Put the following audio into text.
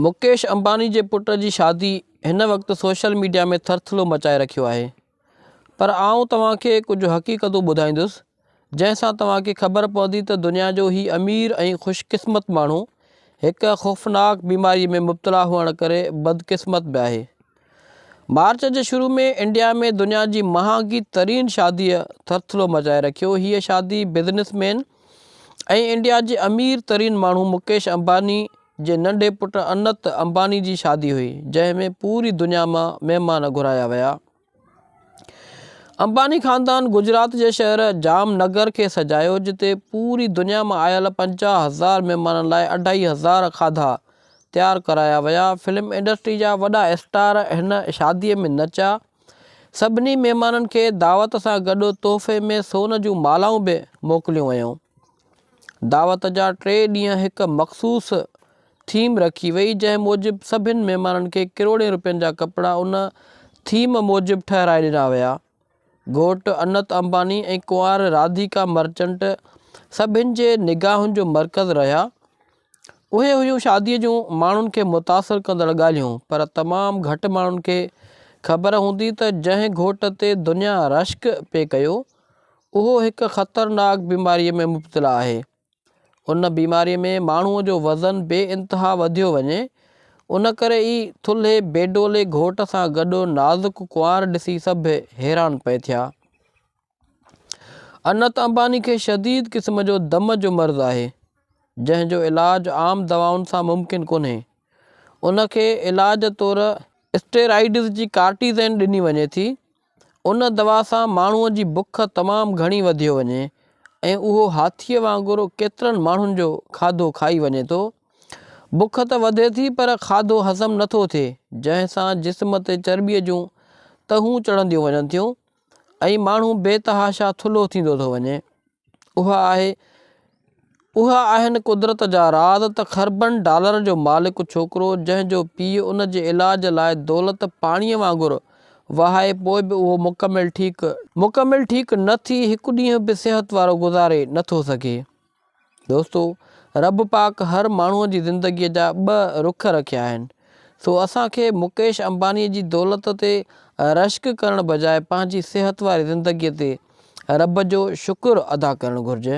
مڪيش امباني جي پٽ جي شادي هن وقت سوشل ميڊيا ۾ ٿرٿلو مچائي رکيو آهي پر آئون توهان کي ڪجهه حقيقتون ٻڌائيندس جنهن سان توهان کي خبر پوندي ته دنيا جو هي امير ۽ خوش قسمت ماڻهو هڪ خوفناڪ بيماري ۾ مبتلا هئڻ ڪري بدقسمت به آهي مارچ جي شروع ۾ انڊيا ۾ دنيا جي مهانگي ترين شاديء ٿرٿلو مچائي رکيو. هيء شادي بزنس مين ۽ انڊيا جي امير ترين ماڻهو مڪيش امباني جي ننڍي پٽ انت امباني جي شادي هئي، جنهن ۾ پوري دنيا مان مهمان گهرايا ويا. امباني خاندان گجرات جي شهر جام نگر کي سجايو، جتي پوري دنيا مان آيل پنجاهه هزار مهمانن لاء اڍائي هزار کاڌا تيار ڪرايا ويا. فلم انڊسٽري جا وڏا اسٽار هن شاديء ۾ نچا. سڀني مهمانن کي دعوت سان گڏ تحفي ۾ سون جون مالائون به موڪليون ويون. دعوت جا ٽي ڏينهن هڪ مخصوص ٿيم رکي وئي، جنهن موجب سڀني مهمانن کي ڪروڙين روپين جا ڪپڙا ان ٿيم موجب ٺهرائي ڏنا ويا. گهوٽ انت امباني ۽ ڪنوار راڌيڪا مرچنٽ سڀني جي نگاهن جو مرڪز رهيا. اهي هيون شاديء جون ماڻهن کي متاثر ڪندڙ ڳالهيون، پر تمام گهٽ ماڻهن کي خبر هوندي ته جنهن گهوٽ تي دنيا رشڪ پئي ڪيو، اهو هڪ خطرناڪ بيماريء ۾ مبتلا آهي. ان بيماريء ۾ ماڻهوء جو وزن بي انتها وڌيو وڃي، ان ڪري ئي ٿلهي بيڊولي گهوٽ سان گڏ نازڪ ڪنوار ڏسي سڀ حيران پئي ٿيا. انت امباني کي شديد قسم جو دم جو مرض آهي، جنهن جو علاج عام دوائن سان ممڪن ڪونهي. ان کي علاج طور اسٽيرائيڊز جي ڪارٽيزين ڏني وڃي ٿي. ان دوا سان ماڻهوء جي بک تمام گهڻي وڌيو وڃي ۽ اهو هاٿيء وانگر ڪيترن ماڻهن جو کاڌو کائي وڃي ٿو. بک ته وڌي ٿي پر کاڌو هضم نٿو ٿئي، جنهن سان جسم تي چرٻيء جون تهون چڙهنديون وڃن ٿيون ۽ ماڻهو بي تحاشا ٿلهو ٿيندو ٿو وڃي اها آهي اها آهن قدرت جا راز ته خربن ڊالرن جو مالڪ ڇوڪرو جنهن جو پيء ان جي علاج لاء دولت پاڻيء وانگر وهائي پوء به اهو مڪمل ٺيڪ مڪمل ٺيڪ نه ٿي هڪ ڏينهن به صحت وارو گذاري نه ٿو سگهي. دوستو! رب پاڪ هر ماڻهوء جي زندگيء جا ٻه رخ رکيا آهن، سو اسان کي مڪيش امبانيء جي دولت تي رشڪ ڪرڻ بجاء پنهنجي صحت واري زندگيء تي رب جو شڪر ادا ڪرڻ گهرجي.